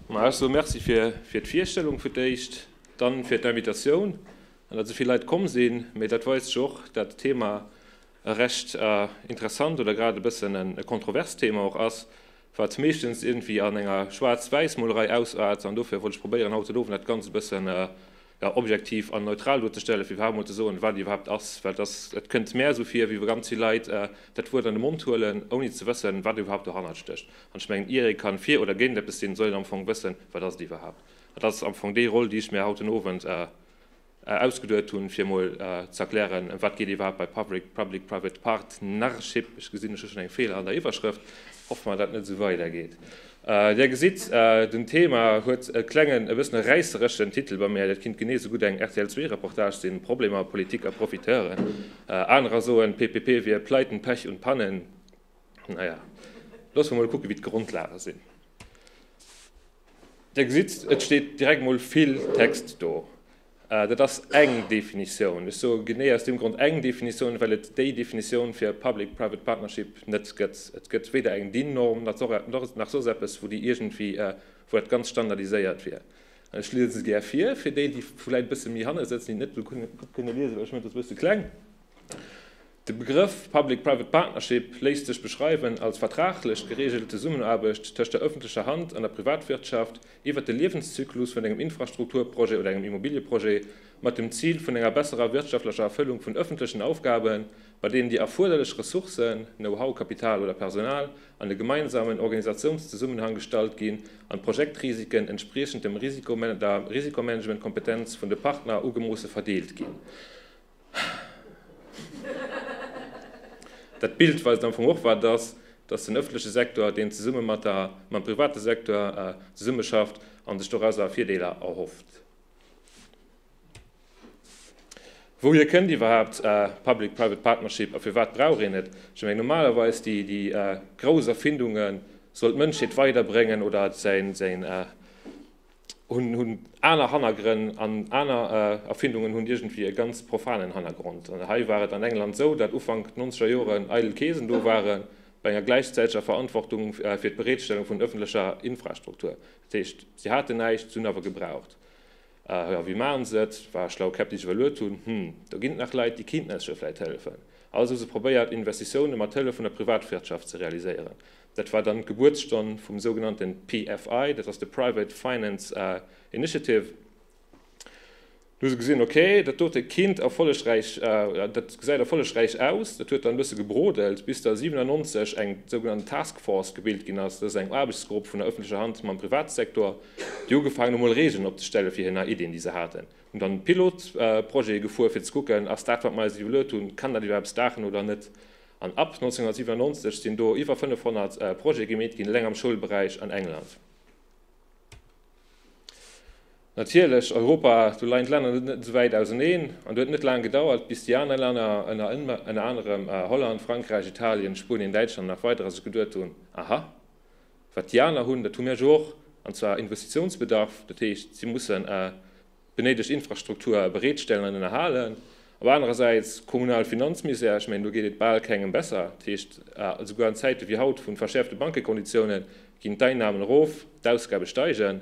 Ma ech soe Merci fir, fir d'Virstellung fir d'éischt, dann fir d'Invitatioun an datt esou vill Leit komm sinn. Mee dat weist jo och, datt d'Thema e recht interessant oder grad e bëssen e kontroverst Thema och ass, wat meeschtens iergendwéi an enger Schwaarz-Wäiss-Molerei ausart. An dofir wollt ech probéieren, haut den Owend dat Ganzt e bëssen ja, objektiv an neutral duerzestellen, fir iwwerhaapt emol ze soen, wat et iwwerhaapt ass. Well et ass, et kënnt mär esou vir, wéi wa ganz vill Leit dat Wuert an de Mond huelen, ouni ze wëssen, wat iwwerhaapt dohannert stécht. An ech mengen, ier ee ka fir oder géint eppes sinn, soll een am Fong wëssen, wat ass et iwwerhaapt. An dat ass am Fong déi Roll, déi ech mir haut den Owend ausgeduet hunn, fir emol ze erklären, ëm wat geet et iwwerhaapt bei Public-Private Partnership. Ech gesinn, ech hu schonn eng Feeler an der Iwwerschrëft. Hoffe mer, dat dat net esou weidergeet. Dir gesitt, den Thema huet e klengen, e bëssen e räissereschen Titel bei mir. Dat kinnt genee esou gutt eng rtl Zwee Reportage sinn, Problemer, Politik a Profiteuren. Anerer soen, d'PPP wier Pleiten, Pech und Pannen. Naja, loosse mer mol kucken, wéi d'Grondlage sinn. Dir gesitt, et steet direkt mol vill Text do. Dat ass eng Definitioun. Ech soe genee aus deem Grond eng Definitioun, well et déi Definitioun fir public-private partnership net gëtt. Et gëtt weder eng DIN-Norm nach soss eppes, wou déi iergendwéi, wou dat ganz standardiséiert wier. An ech liese se gär vir, fir déi, déi vläicht e bësse méi hanne sëtzen, déi et net esou gutt kënne liesen, well ech mengen, et ass e bësse kleng. De Begrëff Public-Private Partnership léisst sech beschreiwen als vertraglech gereegelt Zesummenaarbecht tëscht der ëffentlecher Hand an der Privatwirtschaft iwwert de Liewenszyklus vun engem Infrastrukturprojet oder engem Immobilieprojet mat dem Zil vun enger besserer wirtschaftlecher Erfëllung vun ëffentlechen Aufgaben, bei deenen déi erfuerderlech Ressourcen, Know-how, Kapital oder Personal, an e gemeinsamen Organisatiounszesummenhang gestallt ginn an d'Projektrisiken entspriechend dem Risikomanagementkompetenz vun de Partner ugemoosse verdeelt ginn. Dat Bild weist am Fong och, wat et ass, dass den öffentliche Sektor, deen zesumme mat der, mam private Sektor zesummeschafft a sech dorauser Virdeeler erhofft. Wouhier kënnt iwwerhaapt public-private partnership a firwat brauch een et? Ech mengen, normalerweis déi, déi grouss Erfindunge soll d'Mënschheet weiderbréngen oder säin, hunn aner Hannergrënn an aner Erfindungen hunn iergendwéi e ganz profanen Hannergrond. An hei war et an England esou, datt Ufank d'nonzeger Joren eidel Keesen do ware bei enger gläichzäiteger Verantwortung fir d'Bereetstellung vun ëffentlecher Infrastruktur. Dat heescht, si haten näischt, si hunn awer gebraucht. Jo, wéi maachen se et? War e schlaue Käpp, déi sech iwwerluet hunn, Hm, do ginn et nach Leit, déi kéinten eis jo vläicht hëllefen. Also hu se probéiert, Investitioune mat Hëllef vun der Privatwirtschaft ze realiséieren. Dat war dann d'Gebuertsstonn vum sougenannte PFI, dat ass de Private Finance Initiative. Do hu se gesinn, ok, dat dote Kind erfollegräich, dat gesäit erfollegräich aus. Dat huet dann e bësse gebrodelt, bis da 97 eng sougenannt Task Force gebilt ginn ass, dat ass eng Aarbechtsgrupp vun der ëffentlecher Hand mam Privatsektor, déi ugefaangen hu mol Regeln opzestelle fir hir nei Iddien, déi se haten, hunn dann Pilotprojete gefuer fir ze kucken, ass dat wat mer eis iwwerluet hunn, kann dat iwwerhaapt staachen oder net? An ab 1997 sinn do iwwer 500 Projete gemeet ginn, eleng am Schoulberäich an England. Natierlech Europa, do leien d'Länner net esou wäit auseneen an et huet net laang gedauert, bis déi aner Länner, ënner anerem Holland, Frankräich, Italien, Spuenien, Däitschland a nach weiderer, sech geduet hunn, Aha, wat déi aner hunn, dat hu mir jo och, an zwar Investitiounsbedarf. Dat heescht, si mussen benéidegt Infrastruktur bereetstellen an ënnerhalen. Op anerer Säit kommunal Finanzmisär, ech mengen do geet et bal kengem besser. Dat heescht, esouguer an Zäite wéi haut vu verschäerfte Bankekonditiounen ginn d'Einnahmen erof, d'Ausgabe steigen.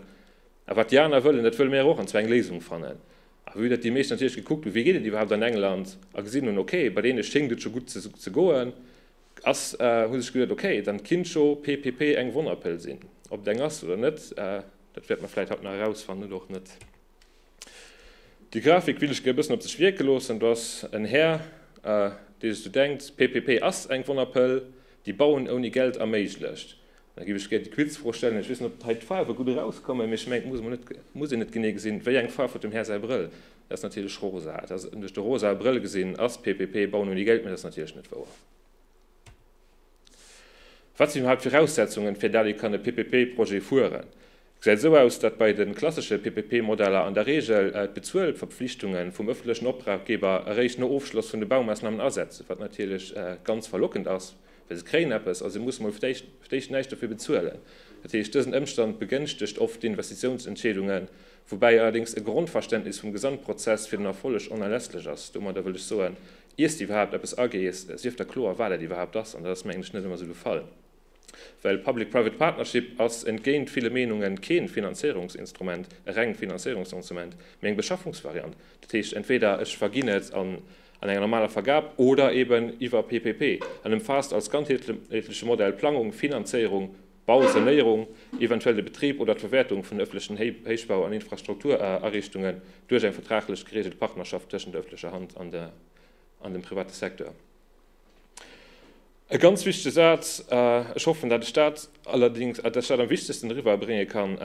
A wat déi aner wëllen, dat wëlle mir awer och, an zwar eng Léisung fannen. A vue datt déi meescht natierlech gekuckt hunn, wéi geet et iwwerhaapt an England, a gesinn hunn, okay, bei deene schéngt et scho gutt ze goen, ass, hu sech gesot, okay, dann kinnt scho PPP eng Wonnerpëll sinn. Ob et eng ass oder net. Dat wäert mer vläit haut nach erausfannen, oder och net. Déi Grafik will ech gär e bëssen op sech wierke loossen. Do ass en Här, dee sech do denkt, PPP ass eng Wonnerpëll, déi Bauen ouni Geld erméiglecht. An da géif ech gär déi Quizfro stellen. Ech weess net, ob hei d'Faarwe gutt erauskommen, mee ech mengen, et muss emol net, muss een net genee gesinn, wéi eng Faarf huet dem Här säi Brëll. Dat ass natierlech rosa. Et ass duerch de rosae Brëll gesinn, ass PPP Bauen ouni Geld, mee dat ass natierlech net wouer. Wat sinn iwwerhaapt d'Viraussetzungen, fir dat ee kann e PPP-Projet fueren? Gesäit esou aus, datt bei de klassesche PPP-Modeller an der Reegel d'Bezuelverpflichtunge vum ëffentlechen Opdraggeber eréischt no Ofschloss vun de Baumaassnamen asetzen, wat natierlech ganz verlockend ass, well se kréien eppes a se mussen emol vtéischt näischt dofir bezuelen. Dat heescht, dësen Ëmstand begënschtegt oft d'Investitiounsentscheedungen, woubäi allerdéngs e Grondverständnis vum Gesamtprozess fir den Erfolleg onerlässlech ass. Domadder wëll ech soen, iers de iwwerhaapt eppes agees, sief der kloer, wat dat iwwerhaapt ass. An dat ass mir englech net ëmmer esou gefall, well public-private partnership ass entgéint ville Meenunge keen Finanzéierungsinstrument, e reng Finanzéierungsinstrument, mee eng Beschaffungsvariant. Dat heescht, entweder ech verginn et an an enger normaler Vergab oder eben iwwer PPP. En ëmfaasst als ganzheetleche Modell Plangung, Finanzéierung, Bau, Sanéierung, eventuell de Betrib oder d'Verwäertung vun ëffentlechen Héichbau an Infrastrukturariichtungen duerch eng vertraglech gereegelt Partnerschaft tëschent der ëffentlecher Hand an dem private Secteur. E ganz wichtege Saz, ech hoffen, datt ech dat allerdings, datt ech dat am wichtegsten eriwwerbrénge kann,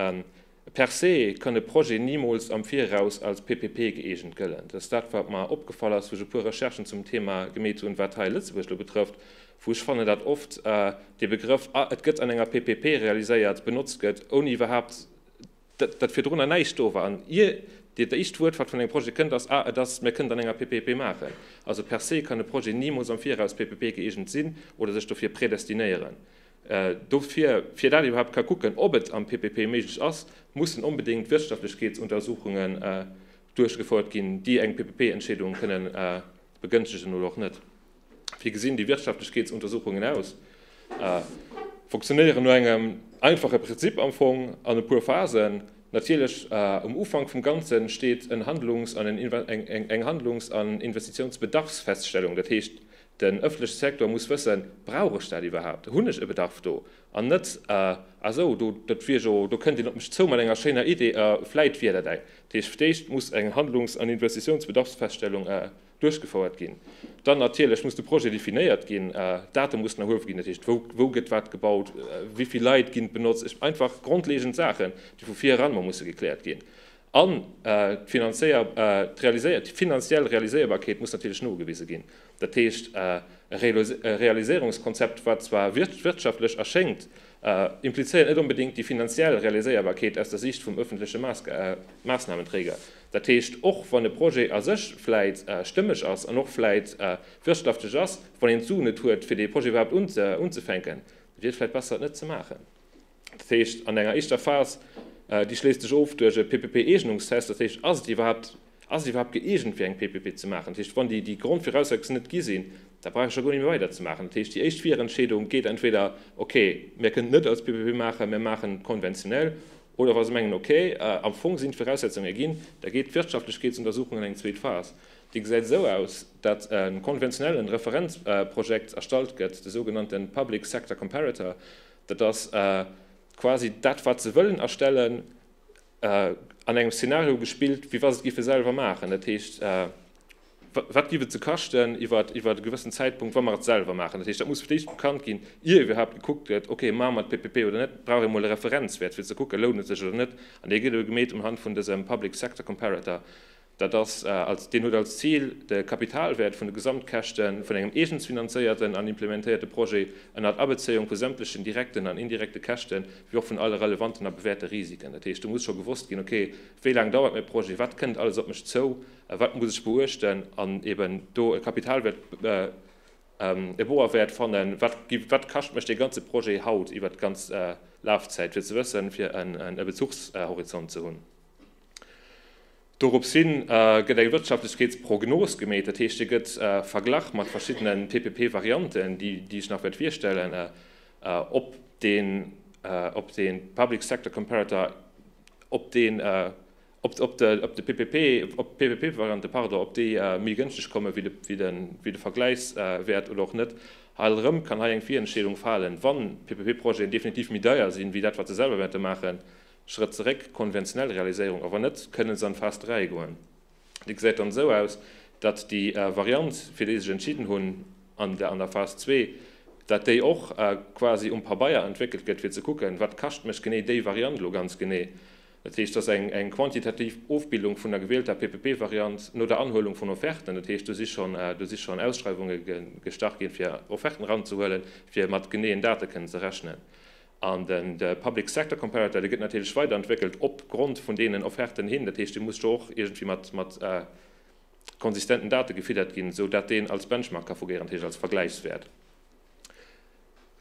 Per se kann e Projet nimools am Viraus als PPP gëeegent gëllen. Dat ass dat, wat mer opgefall ass, wou ech e puer Recherchen zum Thema gemeet hunn, wat hei Lëtzebuerg elo betrëfft, wou ech fannen, dat oft dee Begrëff ah et gëtt an enger PPP realiséiert benotzt gëtt, ouni iwwerhaupt dat, dat virdrunner näischt do war. An ier dat éischt Wuert, wat vun engem Projet kënnt, ass ah et ass, mir kënnen et an enger PPP maachen. Also per se kann e Projet nimools am Viraus PPP-gëeegent sinn oder sech dofir predestinéieren. Dofir, fir dat ee iwwerhaapt ka kucken, ob et am PPP méiglech ass, mussen onbedéngt Wirtschaftlechkeetsuntersuchungen duerchgefouert ginn, déi eng PPP-Entscheedung kënne begënschtegen oder och net. Wéi gesinn déi Wirtschaftlechkeetsuntersuchungen aus? Funktionéieren no engem einfache Prinzip am Fong an e puer Phasen. Natierlech, um Ufank vum Ganze steet eng Handlungs an Investitiounsbedarfsfeststellung, dat heescht, Den ëffentleche Secteur muss wëssen, Brauch ech dat iwwerhaapt? Hunn ech e Bedarf do? An net, Ah esou, do, dat wier jo, do kënnt een op mech zou mat enger schéiner Idee, a vläit wier dat eng. Dat heescht, d'éischt muss eng Handlungs an Investitiounsbedarfsfeststellung duerchgefouert ginn. Dann natierlech muss de Projet definéiert ginn, Date mussen erhuewe ginn, dat heescht, wou, wou gëtt wat gebaut, wéi vill Leit ginn benotzt, einfach grondlegend Saachen, déi vu vir eran emol musse gekläert ginn. An d'finanziell Realiséierbarkeet muss natierlech nogewise ginn. Dat heescht, e Realiséierungskonzept, wat zwar wirtschaftlech erschéngt, implizéiert net onbedéngt déi finanziell Realiséierbarkeet aus der Siicht vum öffentleche Maßnahmenträger. Dat heescht, och wann e Projet a sech vläit stëmmeg ass an och vläit wirtschaftlech ass, wann een d'Suen net huet, fir dee Projet iwwerhaapt unzefänken, wier et vläit besser, et net ze maachen. Dat heescht an enger éischter Phas, déi schléisst sech of duerch e PPP-Eegnungstest, dat heescht ass et iwwerhaapt, ass et iwwerhaapt gëeegent fir eng PPP ze maachen? Dat heescht wann déi Grondviraussetzungen net gi sinn, da brauch ech jo guer net méi weider ze maachen. Dat heescht déi éischt Virentscheedung geet entweder, okay, mir kënnen et net als PPP maachen, mir maachen et konventionell, oder wa se mengen, okay, am Fong sinn d'Viraussetzungen erginn, da geet d'Wirtschaftlichkeetsuntersuchung an eng zweet Phas. Déi gesäit esou aus, datt e konventionellen Referenzprojekt erstallt gëtt, de sougenannte Public Sector Comparator, Dat ass quasi dat, wat se wëllen erstellen, an engem Szenario gespillt, wéi wa se et géife selwer maachen. Dat heescht, wat géif et se kaschten iwwer e gewëssen Zäitpunkt, wa mer et selwer maachen? Dat heescht, dat muss fir d'éischt bekannt ginn, ier iwwerhaapt gekuckt gëtt, okay, maache mer d'PPP oder net? Brauch ee mol e Referenzwäert, fir ze kucken, lount et sech oder net? An dee gëtt elo gemeet unhand vun dësem Public Sector Comparator. Dat ass, deen huet als Zil, de Kapitalwäert vun de Gesamtkäschte vun engem eegens finanzéierten an implementéierte Projet, ënnert Abezéiung vu sämtlechen direkten an indirekte Käschte wéi och vun alle relevanten a bewäerte Risiken, dat heescht do muss scho gewosst ginn, ok, wéi laang dauert mäi Projet, wat kënnt alles op mech zou, wat muss ech beuechten, an eben do e Kapitalwäert, e Boerwäert fannen, wat kascht mech dee ganze Projet haut iwwert d'ganz Lafzäit, fir ze wëssen, fir e Bezuchshorizont ze hunn. Doropshin gëtt eng Wirtschaftlechkeetsprognos gemeet, dat heescht, hie gëtt verglach mat verschiddene PPP-Varianten, déi ech nach wäert virstellen, ob de Public Sector Comparator, ob d'PPP-Varianten, pardon, ob déi méi gënschteg komme wéi de Vergläichswäert oder och net. Hei erëm kann hei eng Virentscheedung falen, wann PPP-Projeten definitiv méi deier sinn, wéi dat, wat se selwer wäerte maachen, Schrëtt zeréck, konventionell Realiséierung awer net, kënnen se an Phase 3 goen. Déi gesäit dann esou aus, datt déi Variant, fir déi sech entschidden hunn an der an der Phase 2, datt déi och quasi um Pabeier entwéckelt gëtt, fir ze kucken, wat kascht mech genee déi Variant elo ganz genee. Dat heescht, dass eng quantitativ Ofbildung vun der gewielter PPP-Variant no der Anhuelung vun Offerten, dat heescht, do si schonn do si schonn Ausschreiwunge gestart ginn, fir Offerten eranzehuelen, fir mat geneeën Date kënnen ze rechnen. An de Public Sector Comparator, dee gëtt natierlech weiderentwéckelt op Grond vun deenen Offerten hin. Dat heescht, dee muss jo och iergendwéi mat konsistenten Date gefiddert ginn, esou dat deen als Benchmark ka fugéieren, dat heescht als Vergläichswäert.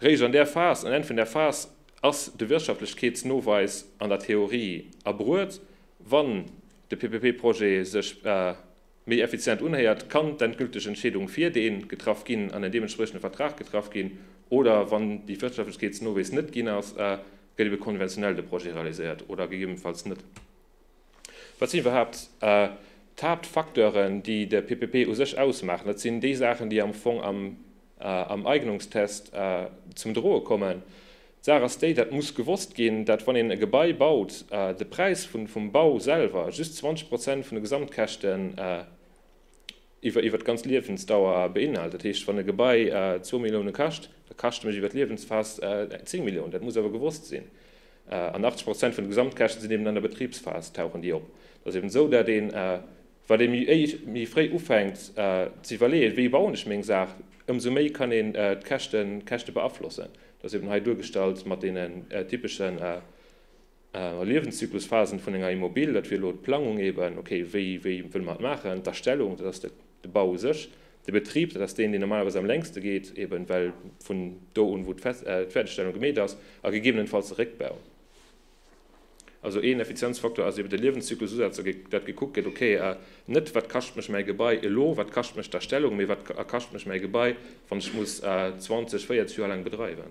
Réischt an där Phas, um Enn vun där Phas, ass de Wirtschaftlechkeetsnoweis an der Theorie erbruet, wann de PPP-Projet sech méi effizient unhéiert, kann d'endgülteg Entscheedung fir dee getraff ginn an en deementspriechende Vertrag getraff ginn, oder wann dee Wirtschaftlechkeetsnowees net ginn ass, gëtt ebe konventionell de Projet realiséiert oder gegebenfalls net. Wat sinn iwwerhaapt d'Haaptfacteuren, déi de PPP u sech ausmaachen? Dat sinn déi Saachen, déi am Fong am Eignungstest zum Droe kommen. D'Saach ass déi, dat muss gewosst ginn, dat wann een e Gebai baut, de Präis vum Bau selwer just 20 Prozent vun de Gesamtkäschten iwwer d'ganz Liewensdauer beinhalt. Dat heescht, wann e Gebai zwou Millioune kascht, da kascht e mech iwwer d'Liewensphas zéng Milliounen. Dat muss awer gewosst sinn. An 80 Prozent vun de Gesamtkäschte sinn eben an der Betribsphas, tauchen déi op. Et ass eben esou, dat een, Wat ee méi fréi ufänkt ze iwwerleeën, wéi bauen ech meng Saach, ëmsou méi kann een d'Käschte beaflossen. Dat ass eben hei duergestallt mat deene typesche Liewenszyklusphasen vun enger Immobil. Dat wier elo d'Plangung eben, ok, wéi wëlle mer et maachen? D'Erstellung, dat ass de Bau u sech. De Betrib, dat ass deen, deen normalerweis am längste geet, eben well vun do un, wou d'Fäerdegstellung gemeet ass, a gegebenenfalls de Réckbau. Also een Effizienzfaktor ass eben de Liewenszyklususaz, dat gekuckt gëtt, ok, net wat kascht mech mäi Gebai elo, wat kascht mech d'Erstellung, mee wat kascht mech mäi Gebai, wann ech muss 20, 40 Joer laang bedreiwen.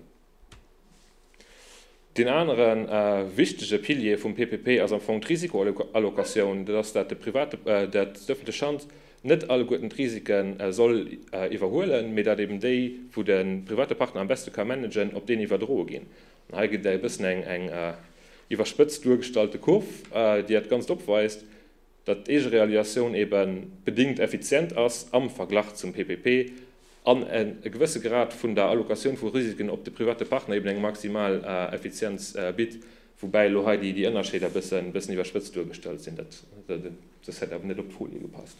Deen anere wichtege Pilier vum PPP ass am Fong d'Risikoallocatioun, dat ass, dat d'ëffentlech Hand net alleguerten d'Risike soll iwwerhuelen, mee dat eben déi, wou de private Partner am beschte ka managen, op deen iwwerdroe ginn. Hei gëtt e bëssen eng iwwerspëtzt duergestallte Kurv, déi dat Ganzt opweist, datt d'Eegerealiatioun ebe bedingt effizient ass am Verglach zum PPP an e gewësse Grad vun der Allocatioun vu Risiken op de private Partner eben eng maximal Effizienz bitt, woubäi elo hei déi Ënnerscheeder e bëssen iwwerspëtzt duergestallt sinn. Dat huet net op d'Folie gepasst.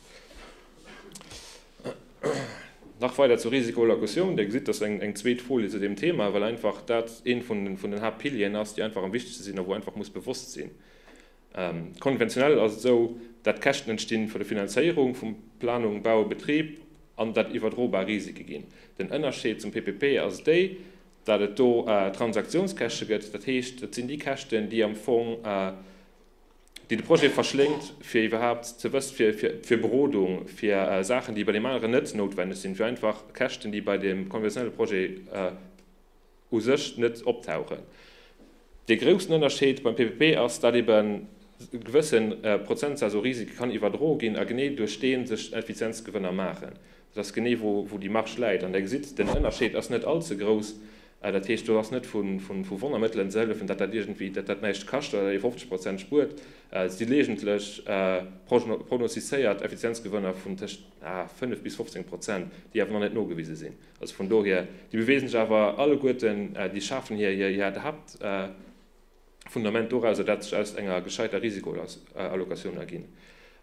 Nach weider zur Risikoallocatioun. Dir gesitt, dat ass eng zweet Folie zu deem Thema, well einfach dat ee vun den Haaptpilieren ass, déi einfach am wichtegste sinn a wou ee einfach muss bewosst sinn, konventionell ass et esou, dat d'Käschten entsti vun der Finanzéierung vu Planung, Bau a Betrib an dat iwwerdrobar Risike ginn. Den Ënnerscheed zum PPP ass déi, dat et do Transaktiounskäschte gëtt, dat heescht, et sinn déi Käschten, déi am Fong, déi de Projet verschléngt, fir iwwerhaapt ze wëss, fir Berodung, fir Saachen, déi bei deem aneren net noutwenneg sinn, fir einfach Käschten, déi bei deem konventionelle Projet u sech net optauchen. Dee groussen Ënnerscheed beim PPP ass, datt ebe gewësse Prozentsaz u Risike kann iwwerdroe ginn a genee duerch dee sech Effizienzgewënner maachen. Dat ass genee wou déi Marge läit. An där gesitt Der, den Ënnerscheed ass net allze grouss. Dat heescht, do ass net vu Wonnermëttelen ze hëllefen, datt dat iergendwéi, datt dat näischt kascht oder datt ee 50 Prozent spuert. Et si leegentlech prognostizéiert Effizienzgewënner vun tëscht 5 bis 15 Prozent, déi awer nach net nogewise sinn. Also vun dohier, déi beweese sech awer alleguerten, déi schafen hir Haaptjob. Fundament dorauser, dat sech aus enger gescheiter Risikoallocatioun erginn.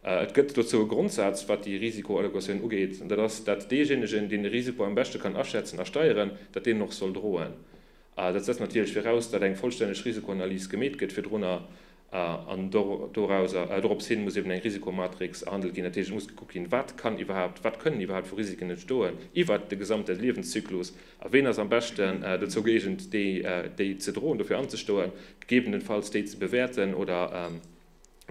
Et gëtt dozou e Grondsaz, wat déi Risikoallocatioun ugeet, an dat ass, dat deejéinegen, deen de Risiko am beschte kann aschätzen a steieren, dat deen och soll droen. Dat setzt natierlech viraus, dat eng vollstänneg Risikoanalys gemeet gëtt virdrunner, an dorauser, dorops hin muss eben eng Risikomatrix erhandelt ginn. Dat heescht, et muss gekuckt ginn, wat kann iwwerhaapt, wat kënnen iwwerhaapt vu Risiken entstoen iwwert de gesamte Liewenszyklus. A ween ass am beschten dozou gëeegent, déi ze droen, dofir anzestoen, gegebenenfalls déi ze bewäerten oder an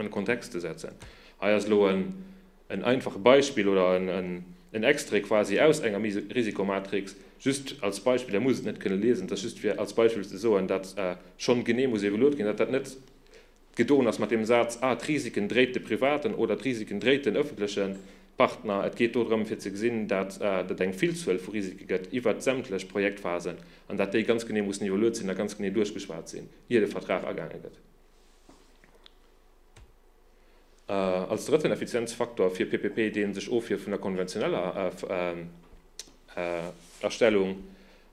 e Kontext ze setzen? Hei ass elo en einfache Beispill oder en Extrait quasi aus enger Risikomatrix, just als Beispill, Der musst et net kënne liesen, et ass just fir als Beispill ze soen, datt schonn genee muss evoluert ginn, datt dat net gedoen ass mat deem Saz, ah, d'Risiken dréit de privaten oder d'Risiken dréit den ëffentleche Partner. Et geet do drëm, fir ze gesinn, dat et eng Villzuel vu Risike gëtt iwwert sämtlech Projektphasen an dat déi ganz genee mussen evaluiert sinn a ganz genee duerchgeschwat sinn, ier de Vertrag agaange gëtt. Als drëtten Effizienzfaktor fir PPP, dee sech ofhieft vun der konventioneller Erstellung,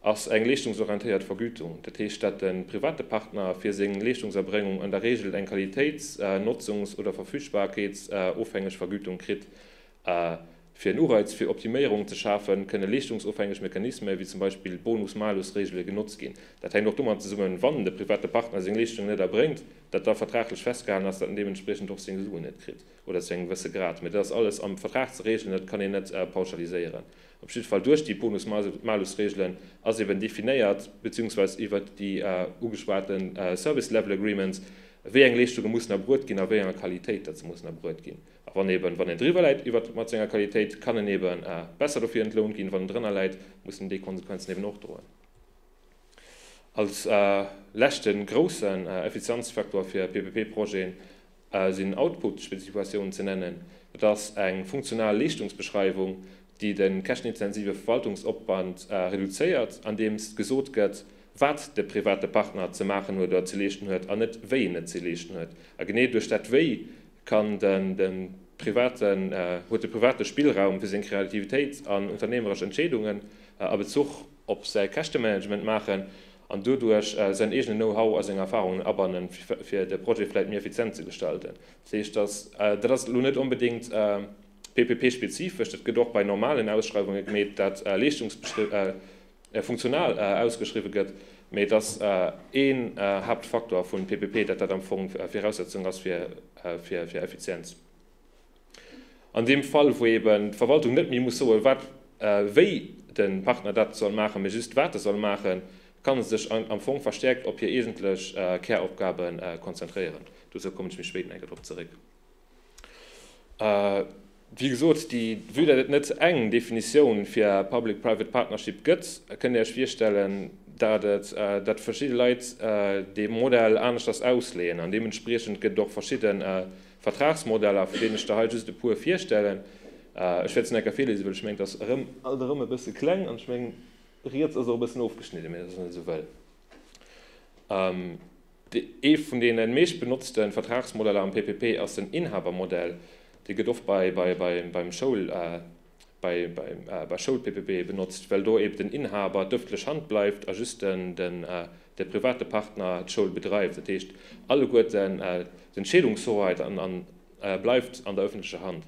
ass eng leeschtungsorientéiert Vergütung. Dat heescht, dat de private Partner fir seng Leeschtungserbréngung an der Reegel eng Qualitéits-, Notzungs oder Verfügbarkeets ofhängeg Vergütung kritt. Fir en Ureiz fir Optiméierungen ze schafen, kënne leeschtungsofhängeg Mechanisme wéi zum Beispill Bonus-Malus-Reegele genotzt ginn. Dat hänkt och domat zesummen, wann de private Partner seng Leeschtung net erbréngt, datt da vertraglech festgehalen ass, datt en deementspriechend och seng Suen net kritt oder zu engem gewësse Grad. Mee dat ass alles am Vertrag ze reegelen, dat kann een net pauschaliséieren. Op jidde Fall duerch déi Bonus-Malusregelen ass eben definéiert, beziehungsweise iwwert déi ugeschwate Service Level Agreements, wéi eng Leeschtunge mussen erbruet ginn a wéi enger Qualitéit datt se mussen erbruet ginn. A wann eben, wann een driwwer läit iwwert mat senger Qualitéit, kann en eben besser dofir entlount ginn. Wann en drënner läit, muss en déi Konsequenzen eben och droen. Als leschte groussen Effizienzfaktor fir PPP-Projeten, Aus en Output-Spezifikatioun ze nennen. Dat ass eng funktional Leeschtungsbeschreiwung, déi de käschtenintensive Verwaltungsopwand reduzéiert, andeems gesot gëtt, wat de private Partner ze maachen huet oder ze leeschten huet an net wéi en et ze leeschten huet. A genee duerch dat Wéi kann den de privaten huet de private Spillraum fir seng Kreativitéit an unternehmeresch Entscheedungen a Bezuch op säi Käschtemanagement maachen an doduerch säin eegenen Know-how a seng Erfarungen abannen, fir de Projet vläicht méi effizient ze gestalten. Dat heescht, dass, dat ass elo net onbedéngt PPP-spezifesch, dat gëtt och bei normalen Ausschreiwunge gemeet, dat leeschtungsbestëmmt funktional ausgeschriwwe gëtt, mä dass een Haaptfaktor vu PPP, dat dat am Fong Viraussetzung ass fir Effizienz. An deem Fall, wou eben d'Verwaltung net méi muss soen, wat wéi de Partner dat soll maachen, mee just wat e soll maachen, kann e sech am Fong verstäerkt op hir eegentlech Käropgabe konzentréieren. Dozou kommen ech méi spéit nach eng Kéier drop zeréck. Wéi gesot, vue dat et net eng Definitioun fir public-private partnership gëtt, kënnt Dir Iech virstellen, datt verschidde Leit dee Modell aneschters ausleeën an deementspriechend gëtt et och verschidde Vertragsmodeller, vun deenen ech der hei just e puer virstellen. Ech wäert se nach e kéier virlesen, well ech mengen, et ass alt erëm e bësse kleng an ech mengen, riets ass och e bëssen ofgeschnidden, mee dat ass net esou wëll. Ee vun deene meescht benotzte Vertragsmodeller am PPP ass den Inhabermodell. Dee gëtt oft beim Schoul. bei Schoulppp benotzt, well do eben den Inhaber d'öffentlech Hand bleift a just de private Partner d'Schoul bedreift. Dat heescht, alleguer ten d'Entscheedungshoheit bleift an der öffentlecher Hand.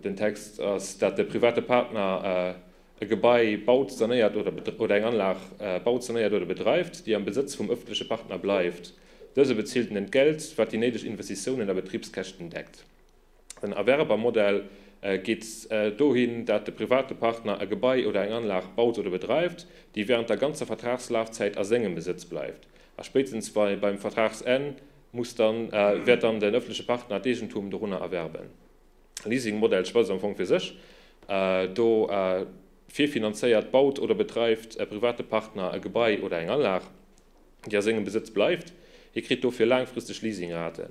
Den Text ass, dat de private Partner e Gebai baut, sanéiert oder eng Anlag baut, sanéiert oder bedreift, déi am Besëtz vum öffentleche Partner bleift. Dëse bezilt en Entgelt, wat déi néideg Investitiounen a Betribskäschten deckt. En Erwerbermodell geet dohin, dat de private Partner e Gebai oder eng Anlag baut oder bedreift, déi während der ganzer Vertragslafzäit a sengem Besëtz bleift. A spéitstens beim Vertragsenn muss dann, wäert dann den öffentliche Partner d'Eegentum dorunner erwerben. E Leasingmodell schwätzt am Fong fir sech. Do virfinanzéiert, baut oder bedreift e private Partner e Gebai oder eng Anlag, déi a sengem Besëtz bleift. Hie kritt dofir laangfristeg Leasingraten.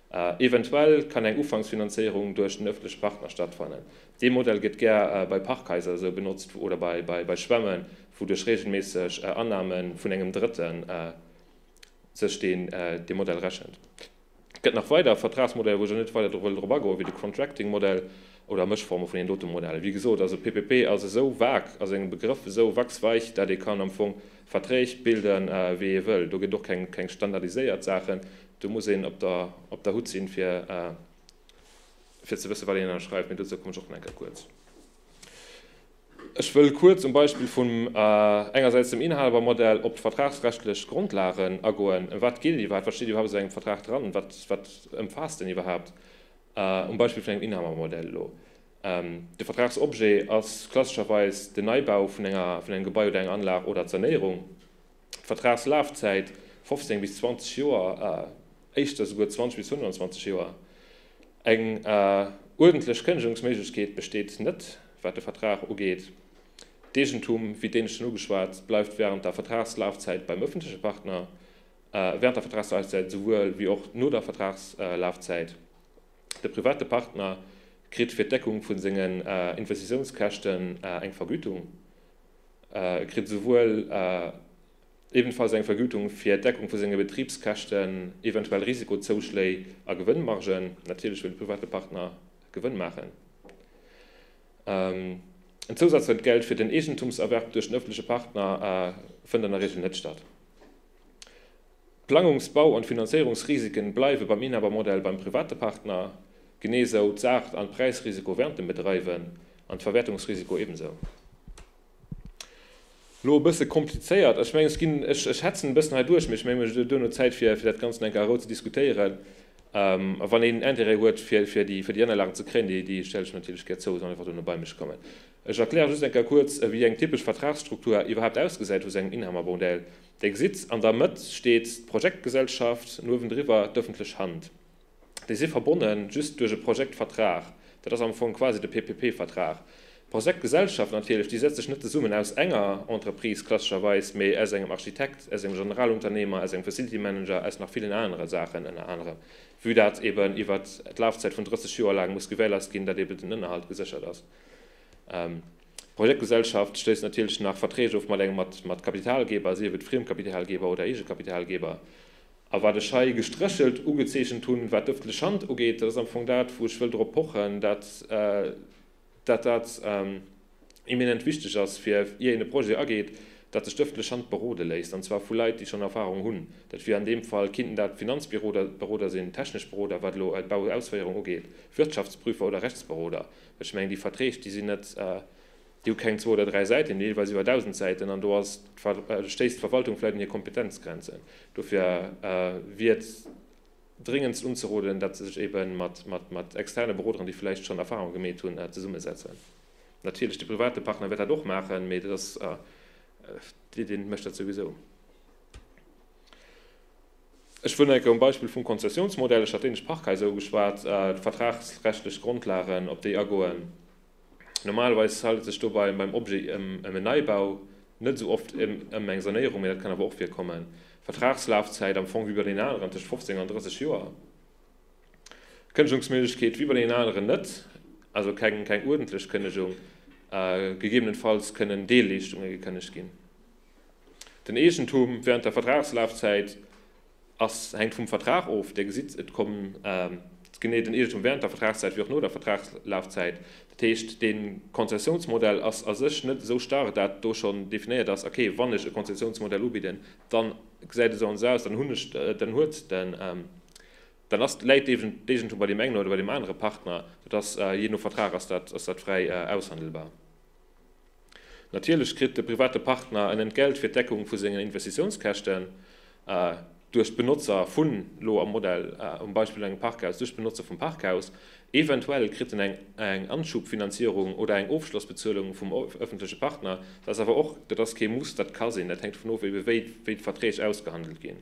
Eventuell kann eng Ufanksfinanzéierung duerch den ëffentleche Partner stattfannen. Dee Modell gëtt gär bei Parkhaiser esou benotzt oder bei Schwämmen, wou duerch reegelméisseg Annahme vun engem Drëtten sech deen dee Modell rechent. Et gëtt nach weider Vertragsmodeller, wou ech elo net weider wëll drop agoen, wéi de Contracting-Modell oder Mëschforme vun deenen dote Modellen. Wéi gesot, also PPP ass esou vague, ass e Begrëff esou wachsweich, dat ee kann am Fong Verträg bilden, wéi ee wëll. Do gëtt och keng standardiséiert Saachen. Do muss een op der Hutt sinn, fir ze wëssen, wat een ënnerschreift. Mee dozou kommen ech och nach eng Kéier kuerz. Ech wëll kuerz um Beispill vum engersäits dem Inhabermodell op d'vertragsrechtlech Grondlagen agoen. Ëm wat geet et iwwerhaapt? Wat steet iwwerhaapt a sou engem Vertrag dran? Wat ëmfaasst en iwwerhaapt? Um Beispill vun engem Inhabermodell elo, De Vertragsobjet ass klassescherweis den Neibau vun engem Gebai oder enger Anlag oder d'Sanéierung. D'Vertragslafzäit, 15 bis 20 Joer, éischter souguer 20 bis 25 Joer. Eng uerdentlech Kënnegungsméiglechkeet besteet net, wat de Vertrag ugeet. D'Eegentum, wéi d'Éinescht schonn ugeschwat, bleift wärend der Vertragslafzäit beim ëffentleche Partner, wärend der Vertragslafzäit esouwuel wéi och no der Vertragslafzäit. De private Partner kritt fir d'Deckung vu senge Investitiounskäschten eng Vergütung. E kritt esouwuel ebenfalls eng Vergütung fir d'Deckung vu senge Betribskäschten, eventuell Risiko-Zouschléi a Gewënnmargen, natierlech wëll de private Partner Gewënn maachen, en Zousazentgeld fir den Eegentumserwerb duerch den ëffentleche Partner fënnt an der Regel net statt. D'Plangungs-, Bau an d'Finanzéierungsrisiken bleiwe beim Inhabermodell beim private Partner, genee esou d'Saart an d'Präisrisiko während dem Bedreiwen an d'Verwäertungsrisiko ebensou. Lo e bësse komplizéiert, ech mengen ech ginn, ech hetzen e bëssen hei duerch, mee ech mengen ech hu duerno Zäit fir dat Ganzen eng Kéier a Rou ze diskutéieren. A wann een Interêt huet fir déi Anlagen ze kréien, déi stelle ech natierlech gär zou, soll einfach dono bei mech kommen. Ech erkläre just eng Kéier kuerz wéi eng typesch Vertragsstruktur iwwerhaapt ausgesäit vu sengem Inhabermodell. Dir gesitt, an der Mëtt steet d'Projektgesellschaft, an uewendriwwer d'öffentlech Hand. Déi si verbonne just duerch e Projektvertrag, dat ass am Fong quasi de PPP-Vertrag. D'Projektgesellschaft natierlech, déi setzt sech net zesummen aus enger Entreprise klassescherweis, mä aus engem Architekt, aus engem Generalunternehmer, aus engem Facility Manager, aus nach villen anere Saachen, ënner anerem vue dat eeben iwwert d'Lafzäit vun 30 Joer laang muss gewährleist ginn, datt eeben den Ënnerhalt geséchert ass. D'Projektgesellschaft schléisst natierlech nach Verträg of mat Kapitalgeber, sief et Friemkapitalgeber oder Eegekapitalgeber. A wat ech hei gestréchelt ugezeechent hunn, wat d'ëffentlech Hand ugeet, dat ass am Fong dat, wou ech wëll drop pochen, dat dat eminent wichteg ass, fir, ier een e Projet ageet, datt sech d'ëffentlech Hand berode léisst, an zwar vu Leit, déi schonn Erfahrung hunn. Dat wier an deem Fall, kinnten dat Finanzberoder sinn, technesch Beroder, wat elo d'Bauausféierung ugeet, Wirtschaftsprüfer oder Rechtsberoder. Ech mengen, déi Verträg, déi sinn net, déi hu keng zwou oder dräi Säiten, déi hunn deelweis iwwer dausend Säiten an do ass, stéisst d'Verwaltung vläicht un hir Kompetenzgrenzen. Dofir wier et dréngendst unzeroden, datt se sech ebe mat externe Beroderen, déi vläicht schonn Erfahrunge gemeet hunn, zesummesetzen. Natierlech, de private Partner wäert dat och maachen, mee dat ass, dee deen et mécht, dat souwisou. Ech wëll nach eng Kéier um Beispill vum Konzessionsmodell, ech hat d'dänesch Parkhaiser ugeschwat, d'vertragsrechtlech Grondlagen, op déi agoen. Normalerweis handelt et sech do beim Objet ëm en Neibau, net esou oft ëm eng Sanéierung, mä dat kann awer och virkommen. Vertragslafzäit, am Fong wéi bei deenen aneren, tëscht 15 an 30 Joer. Kënnegungsméiglechkeet, wéi bei deenen aneren net, also keng uerdentlech Kënnegung, gegebenenfalls kënnen Deelleeschtunge gekënnegt ginn. Den Eegentum während der Vertragslafzäit ass, hänkt vum Vertrag of. Dir gesitt, et kommt genee den Eegentum während der Vertragszäit wéi och no der Vertragslafzäit. Dat heescht, dee Konzessiounsmodell ass a sech net esou starr, dat do schonn definéiert ass, ok, wann ech e Konzessiounsmodell ubidden, dann gesäit e sou an esou aus, dann hunn ech, dann huet den, dann ass, läit d'Eegentum bei deem engen oder bei deem anere Partner. Dat ass, jee no Vertrag ass dat, ass dat fräi aushandelbar. Natierlech kritt de private Partner en Entgelt fir d'Deckung vu sengen Investitiounskäschten duerch d'Benotzer vun, elo am Modell, am Beispill engem Parkhaus, duerch d'Benotzer vum Parkhaus. Eventuell kritt en eng Anschubfinanzierung oder eng Ofschlossbezuelung vum öffentleche Partner. Dat ass awer och, dat ass kee Muss, dat ka sinn, dat hänkt dovun of, ebe wéi d'Verträg ausgehandelt ginn.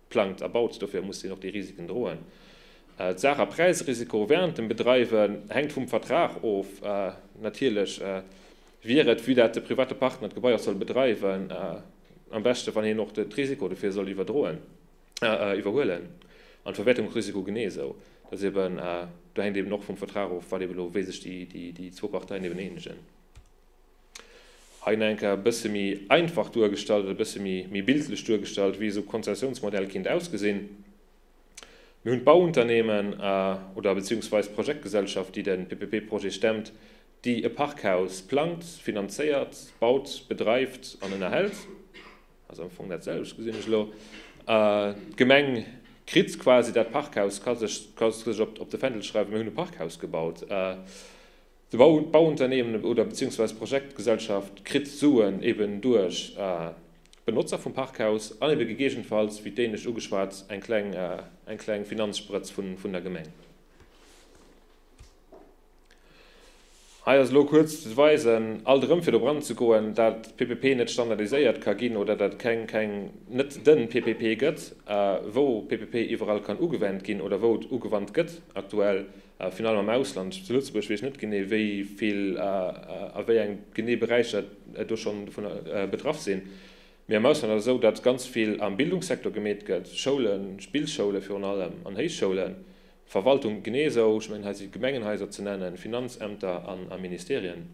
plangt a baut. Dofir muss hien och déi Risiken droen. D'Saach a Präisrisiko wärend dem Bedreiwe hänkt vum Vertrag of. Natierlech wier et, vue dat de private Partner d'Gebai och soll bedreiwen, am beschte wann hien och de Risiko dofir soll iwwerhuelen an d'Verwäertung och Risiko genee esou. Dat eben, do hänkt eben och vum Vertrag of, wat eben elo, wéi sech déi zwou Parteien eben eenegen. Hei nach enker e bësse méi einfach duergestallt oder e bësse méi bildlech duergestallt, wéi esou Konzessiounsmodell kinnt ausgesinn. Mir hunn d'Bauunternehmen a, oder beziehungsweis d'Projektgesellschaft, déi de PPP-Projet stemmt, déi e Parkhaus plangt, finanzéiert, baut, bedreift an ënnerhält, also am Fong datselwecht, gesinn ech elo. D'Gemeng kritt quasi dat Parkhaus, ka sech op de Fändel schreiwen, mir hunn e Parkhaus gebaut. De Bauunternehmen oder beziehungsweise d'Projektgesellschaft kritt Suen eben duerch d'Benotzer vum Parkhaus an eben gegeegenfalls, wéi d'Éinescht ugeschwat, eng kleng, eng kleng Finanzsprëtz vun der Gemeng. Hei ass elo kuerz ze weisen, alt erëm fir drop anzegoen, dat PPP net standardiséiert ka ginn oder dat et keng, keng, net de PPP gëtt, wou PPP iwwerall kann ugewendt ginn oder wou et ugewandt gëtt aktuell. A virun allem am Ausland. Zu Lëtzebuerg weess ech net genee, wéi vill a wéi eng genee Beräicher do schonn dovun betraff sinn. Mee am Ausland ass et esou, datt ganz vill am Bildungssektor gemeet gëtt, Schoulen, Spillschoule virun allem an Héichschoulen, Verwaltung genee esou, ech mengen hei si Gemengenhaiser ze nennen, Finanzämter a Ministerien.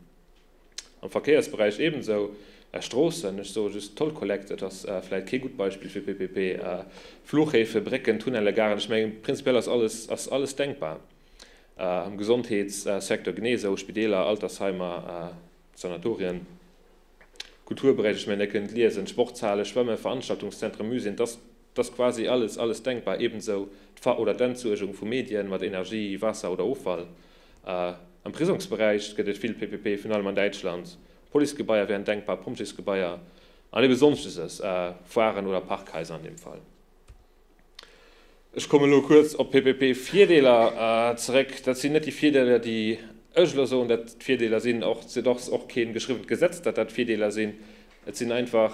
Am Verkéiersberäich ebensou. Stroossen, ech soe just Toll Collect, et ass vläit kee gutt Beispill fir PPP. Fluchhäfe, Brécken, Tunnelle, Garen, ech mengen prinzipiell ass alles, ass alles denkbar. Am Gesondheetssecteur genee esou, Spideeler, Altersheimer, Sanatorien. Kulturberäich, ech mengen Dir kënnt liesen, Sportshale, Schwëmme, Veranstaltungszentren, Museen, et ass. 't ass quasi alles, alles denkbar, ebensou d'Ver oder d'Entsuergung vu Medien mat Energie, Waasser oder Offall. Am Prisongsberäich gëtt et vill PPP, virun allem an Däitschland. Policegebaier wären denkbar, Pompjeesgebaier an ebe Sonschteses, Foiren oder Parkhaiser an deem Fall. Ech kommen elo kuerz op d'PPP-Virdeeler zeréck. Dat sinn net déi Virdeeler, déi ech elo soen, datt d'Virdeeler sinn. Och, et ass och kee geschriwwent Gesetz, datt dat d'Virdeeler sinn. Et sinn einfach.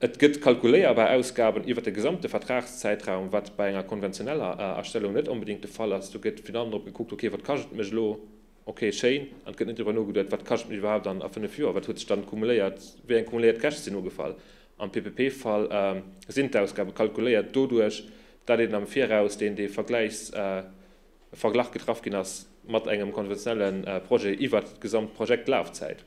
Et gëtt kalkuléierbar Ausgaben iwwert de gesamte Vertragszäitraum, wat bei enger konventioneller Astellung net onbedéngt de Fall ass. Do gëtt virun allem drop gekuckt, okay, wat kascht et mech elo? Okay, schéin. An et gëtt net driwwer nogeduet, wat kascht et mech iwwerhaapt dann a fënnef Joer? Wat huet sech dann kumuléiert? Wéi eng kumuléiert Käschte sinn ugefall? Am PPP-Fall sinn d'Ausgabe kalkuléiert doduerch, dat een am Viraus deen dee Vergleichsverglach getraff ginn ass mat engem konventionelle Projet iwwert d'gesamt Projektlafzäit.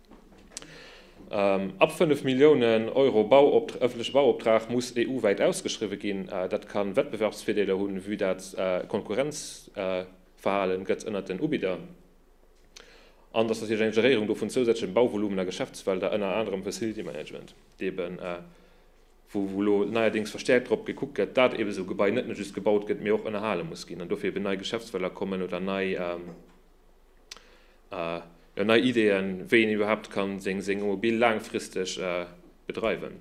Ab 5 Milliounen Euro ëffentleche Bauoptrag muss EU-wäit ausgeschriwwe ginn. Dat ka Wettbewerbsvirdeeler hunn, vue dat Konkurrenzverhale gëtt ënnert den Ubidder an dass natierlech eng Geréierung do vun zousätzleche Bauvolumen a Geschäftsfelder, ënner anerem Facility Management, deeben, wou elo neierdéngs verstäerkt drop gekuckt gëtt, dat eebe sou Gebai net nëmme just gebaut gëtt, mee och ënnerhale muss ginn an dofir eeben nei Geschäftsfelder kommen oder nei. jo nei Ideeën wéi een iwwerhaapt kann seng seng Immobil laangfristeg bedreiwen.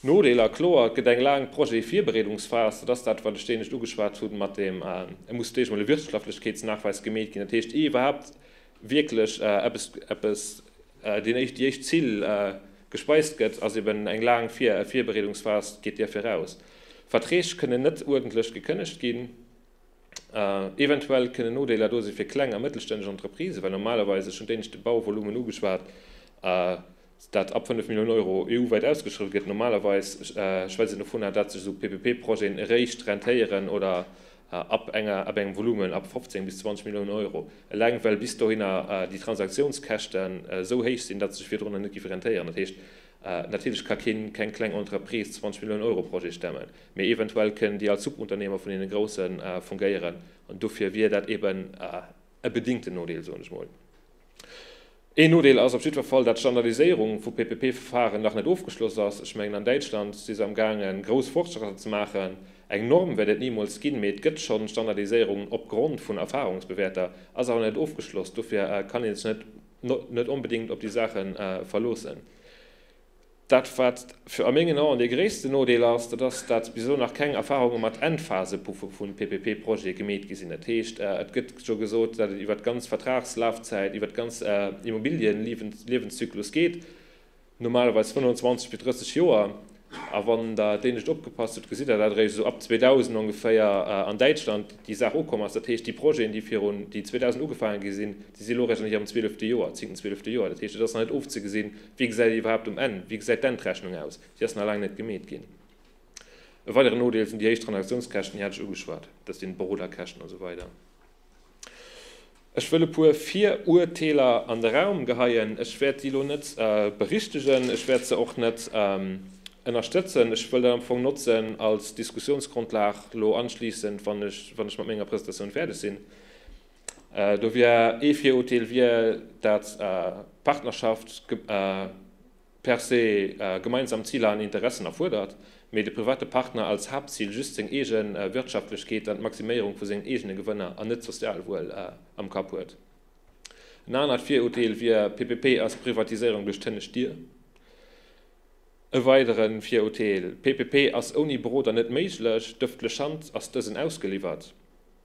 Nodeeler, kloer et gëtt eng laang Projet-Virbereedungsphas, dat ass dat wat ech d'Enescht ugeschwat hunn mat dem et muss d'Eescht emol e Wirtschaftlechkeetsnachweis gemeet ginn, dat heescht ier iwwerhaapt wierklech eppes eppes déi éischt déi éischt Zill gespeist gëtt ass eben eng laang Vir Virbereedungsphas geet där viraus. Verträg kënnen net uerdentlech gekënnegt ginn. Eventuell kënnen Nodeeler do si fir kleng a mëttelstänneg Entreprisen, well normalerweis, ech hunn d'Éinescht de Bauvolumen ugeschwat, dat ab 5 Milliounen Euro EU-wäit ausgeschriwwen gëtt, normalerweis schwätzt een dovunner, datt sech esou PPP-Projeten eréischt rentéieren oder ab engem Volumen ab 15 bis 20 Milliounen Euro, eleng well bis dohinner déi Transaktiounskäschten esou héich sinn, datt se sech virdrunner net géife rentéieren. Dat heescht, Natierlech ka keen, keng kleng Entreprise 20 Millioune Euro Projet stemmen, mee eventuell kënnen déi als Subunternehmer vun deene Grousse fungéieren an dofir wier dat eben e bedingten Nodeel, soen ech mol. Een Nodeel ass op jiddwer Fall, dat d'Standardiséierung vu PPP-Verfaren nach net ofgeschloss ass. Ech mengen an Däitschland si se am gaangen grouss Fortschrëtter ze maachen. Eng Norm wäert et nimools ginn, mee et gëtt schonn Standardiséierungen opgrond vun Erfahrungsbewäerter, ass awer net ofgeschloss. Dofir kann ee sech net. net onbedéngt op déi Saache verloossen. Dat, wat fir a mengen Aen dee gréissten Nodeel ass, dat ass, datt bis elo nach keng Erfarunge mat Endphasepuffe vu PPP-Projete gemeet gi sinn. Dat heescht, et gëtt jo gesot, datt et iwwert d'ganz Vertragslafzäit, iwwert d'ganz Immobilienliewenszyklus geet. normalerweis 25 bis 30 Joer, a wann Der d'Éinescht opgepasst hutt, gesitt Der dat eréischt esou ab 2000 ongeféier an Däitschland déi Saach ukomm ass. Dat heescht, déi Projeten, déi virun, déi 2000 ugefaange gi sinn, déi si elo eréischt an hirem zwielefte Joer, zéngten, zwielefte Joer. Dat heescht, et ass nach net ofzegesinn, wéi gesäit et iwwerhaapt um Enn, wéi gesäit d'Endrechnung aus, déi ass nach laang net gemeet ginn. E weideren Nodeel sinn déi héich Transaktiounskäschten, déi hat ech ugeschwat, dat sinn d'Beroderkäschten a sou weider. Ech wëll e puer Viruerteeler an de Raum geheien. Ech wäert déi elo net berichtegen, ech wäert se och net ënnerstëtzen. Ech wëll dat am Fong notzen als Diskussionsgrundlag elo anschliissend, wann ech mat menger Presentatioun fäerdeg sinn. Do wier ee Virurteel, wier, dat d'Partnerschaft per se gemeinsam Ziler an Interessen erfuerdert, mee de private Partner als Haaptzil just seng eege Wirtschaftlechkeet an d'Maximéierung vu sengen eegene Gewënner an net d'Sozialwuel am Kapp huet. En anert Virurteel wier, PPP ass Privatiséierung duerch d'hënnescht Dier. E weidere Virurteel, PPP ass ouni Beroder net méiglech, d'ëffentlech Hand ass dësen ausgeliwwert.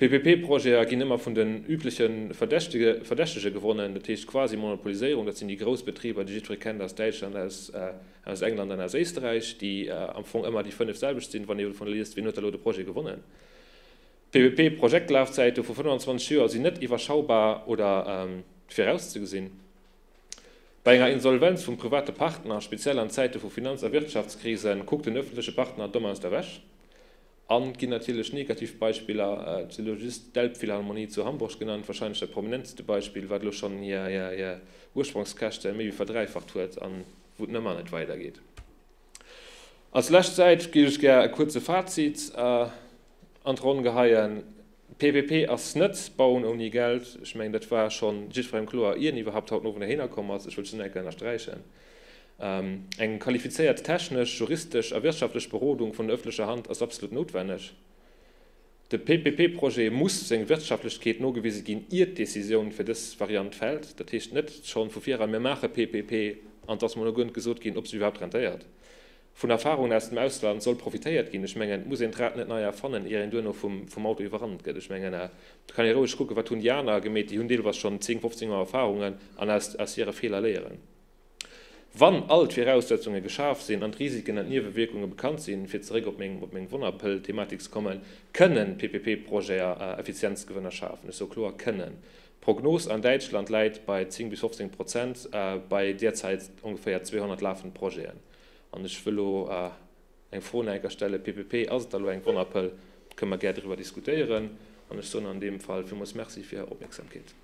PPP-Projete ginn ëmmer vun den übleche Verdächtege gewonnen, dat heescht quasi Monopoliséierung. Dat sinn déi grouss Betriber, déi jiddweree kennt aus Däitschland, aus England an aus Éisterräich, déi am Fong ëmmer déi fënnef selwecht sinn, wann ee dovunner liest, wien huet da elo de Projet gewonnen. PPP-Projektlafzäite vu 25 Joer sinn net iwwerschaubar oder virauszegesinn. Bei enger Insolvenz vum private Partner, speziell an Zäite vu Finanz a Wirtschaftskrisen, kuckt den ëffentleche Partner domm aus der Wäsch. An et ginn natierlech negativ Beispiller, et si elo just d'Elbphilharmonie zu Hamburg genannt, wahrscheinlech dat prominenteste Beispill, wat elo schonn hir Ursprongskäschte méi wéi verdräifacht huet an wou et nëmmer net weidergeet. Als lescht Säit géif ech gär e kuerze Fazit an d'Ronn geheien. PPP ass net Bauen ouni Geld. Ech mengen, dat war scho jiddwerengem kloer, ier en iwwerhaapt haut den Owend heihinner komm ass. Ech wëll just nach eng Kéier ënnersträichen, Eng qualifizéiert technesch, juristesch a wirtschaftlech Berodung vun der ëffentlecher Hand ass absolut noutwenneg. De PPP-Projet muss seng Wirtschaftlechkeet nogewise ginn, ier d'Décisioun fir dës Variant fält. Dat heescht net schonn vu vireran, Mir maache PPP an et ass mol no guer net gesot ginn, ob se iwwerhaapt rentéiert. Vun Erfarungen aus dem Ausland soll profitéiert ginn. Ech mengen, et muss een d'Rad net nei erfannen, ier een duerno vum Auto iwwerrannt gëtt. Ech mengen, do kann ee roueg kucken, wat hunn déi aner gemeet, déi hunn deelweis schonn 10, 15 Joer Erfarungen, an aus hire Feeler léieren. Wann all d'Viraussetzunge geschaf sinn an d'Risiken an d'Niewewierkunge bekannt sinn, fir zeréck op meng Wonnerpëll-Thematik ze kommen, kënnen PPP-Projeten Effizienzgewënner schafen. Ech soe kloer kënnen. D'Prognos an Däitschland läit bei 10 bis 15 Prozent bei derzäit ongeféier 200 lafend Projeten. An ech wëll elo eng Fro no enker stellen, PPP, Ass et da elo eng Wonnerpëll? Kënne mer gär doriwwer diskutéieren. An ech soen an deem Fall villmools Merci fir Är Opmierksamkeet.